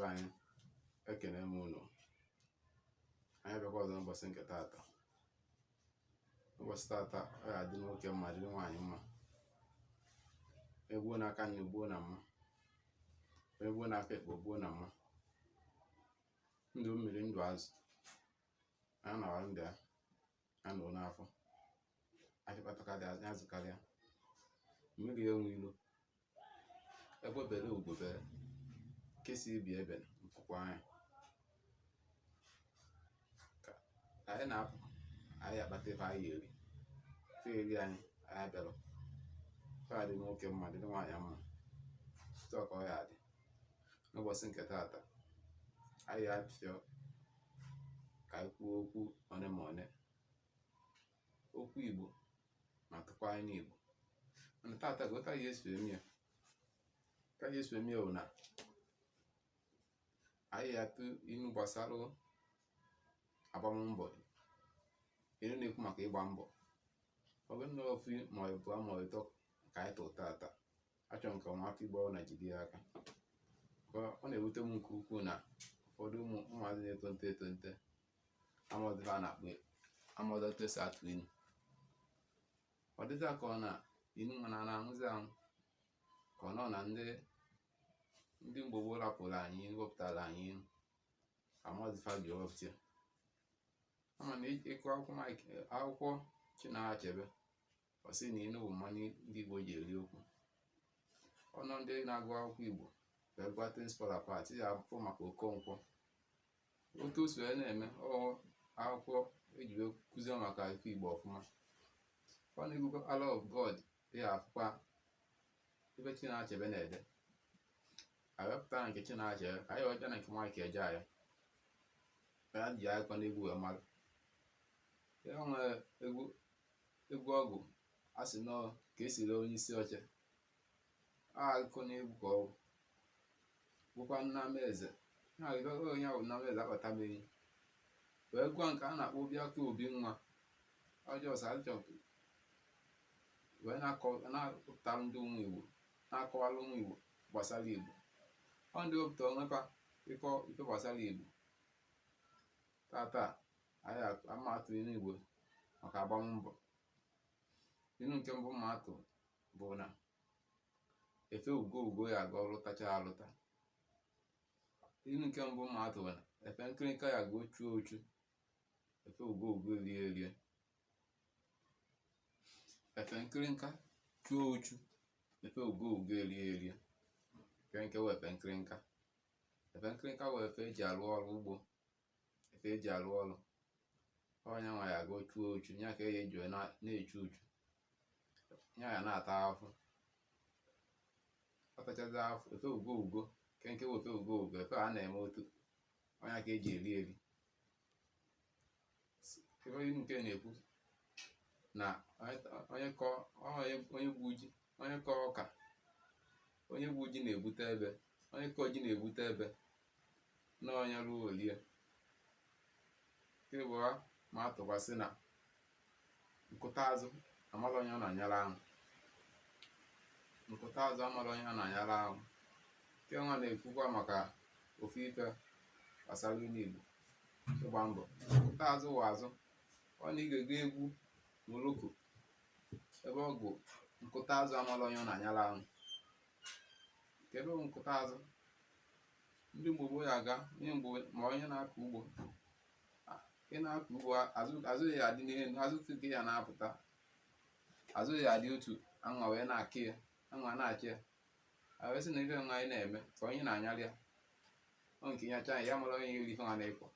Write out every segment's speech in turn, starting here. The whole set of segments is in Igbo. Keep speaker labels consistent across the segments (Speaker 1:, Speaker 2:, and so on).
Speaker 1: anyị ekene m unu anyị bịakwa ọzọ n'ụbọchị nke taata ụbọchị taata ọ ga-adị nwoke mma dịrị nwaanyị mma egbuo n'aka nni gbuo na mma egbuo n'aka ekpe gbuo na mma ndụ mmiri ndụ azụ a na-awa ndị a anụ n'afọ achịkpatakarị azụkarịa mmiri enwe ilo egbe bere ugo bere nke si ibe ya ebena nku kwaa ya ka anyị na-apụ anyị akpata ife anyị eri ife eri anyị abịala ọ ga-adị nwoke mma dị nwaanyị mma otu a ka ọ ya-adị n'ụbọchị nke taata anyị achọ ka anyị kwuo okwu one ma one okwu Igbo ma tụkwaa inu Igbo mana taata ka otu anyị ya-esi eme ya ka anyị ya-esi eme ya bụ na anyị atụ inu gbasara agbammbọ inu na-ekwu maka ịgba mbọ ọ bụrụ na ofu ma ịbụa ma ọ bụ ịtọ ka anyị tụrụ taata achọ m ka ụmụaka igbo na-ejide ya aka ọ na-ewute m nke ukwuu na ụfọdụ ụmụ ụmụazị na-etonite etonite amaghị ife a na-akpọ amaghị otu esi atụ inu ọ dịzị ka ọ na inu mana na-anwụzi anwụ ka ọ nọ na ndị ndị mgbe gboo rapụrụ anyị wepụtara anyị inu amaghị fa ji wepụta ya ama na ị gụọ akwụkwọ Chinua Achebe ọ sị na inu bụ mmanụ ndị Igbo ji eri okwu unu ndị na-agụ akwụkwọ Igbo wee gụọ things fall apart ya afụ maka Okonkwo otu o si wee na-eme ọ akwụkwọ eji wee kụzie maka ife Igbo ọfụma onye gụkwaa Arrow of God ya afụkwa ebe Chinua Achebe na-ede a pụta na nke Chinua Achebe ka anyị jee na nke Mike Ejeagha e ji akụkọ n'egwu wee mara ya nwere egwu egwu ọ gụrụ a sị na ka esi ree onye isi oche akụkọ na egwu ka ọ bụ gụkwaa nna m eze na ịbịago onye ahụ nna m eze akpata m enyi wee gụọ nke a na-akpọ Obiakọ obi nwa ọ just achọ wee na-apụtara ndị ụmụ igbo na-akọwara ụmụ igbo gbasara igbo ọ ndị wepụta onwe fa ịkọ ife gbasara igbo taata anyị ama atụ inu igbo maka agbam mbọ inu nke mbụ m ma-atụ bụ na efe ugo ugo ya aga ọlụtacha alụta inu nke mbụ m ma-atụ bụ na efe nkịrịnka ya ga chuo uchu efe ugo ugo erie erie efe nkịrịnka chuo uchu efe ugo ugo erie erie nke wụ efe nkịrịnka efe nkịrịnka wụ efe eji arụ ọrụ ugbo efe eji arụ ọrụ ọ nya nwa ya ga chuo uchu ya ka eji eji na-echu uchu ya ya na-ata afụ ọ tachazie afụ efe ugo ugo nke nke bụ efe ugo ugo efe a na-eme otu ọ ya ka eji eri eri ebe inu nke na-ekwu na onye kọ onye gbu ji onye kọ ọka onye gbu ji na-ebute ebe onye kọ ji na-ebute ebe na onye ruo olie ke ịbụa m ma-atụkwasị na nkụta azụ amala onye ọ na-anyara ahụ nkụta azụ amala onye ọ na-anyara ahụ nke nwa na-ekwukwa maka ofu ife gbasara inu igbo ịgba mbọ nkụta azụ wụ azụ ọ na ị ga-ege egwu moloko ebe ọ gụ nkụta azụ amala onye ọ na-anyala ahụ nke bụ nkụta azụ ndị igbo gboo ya aga onye mgbe ma onye na-akọ ugbo a- ị na-akọ ugbo a- azụ azụ ya adị n'elu azụ tupu ya na-apụta azụ ya adị otu anwa wee na-akị ya anwụ na-acha ya a wee sị na ife nwa anyị na-eme ka onye na-anyalị ya ọ nke ya chaa ya mara onye iri ife nwa na-ekwu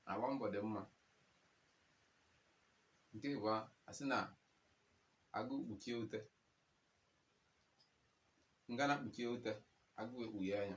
Speaker 1: na agba mbọ dị mma nke bụ asị na agụụ kpuchie ute ngana kpuchie ute agụụ ekpughe anya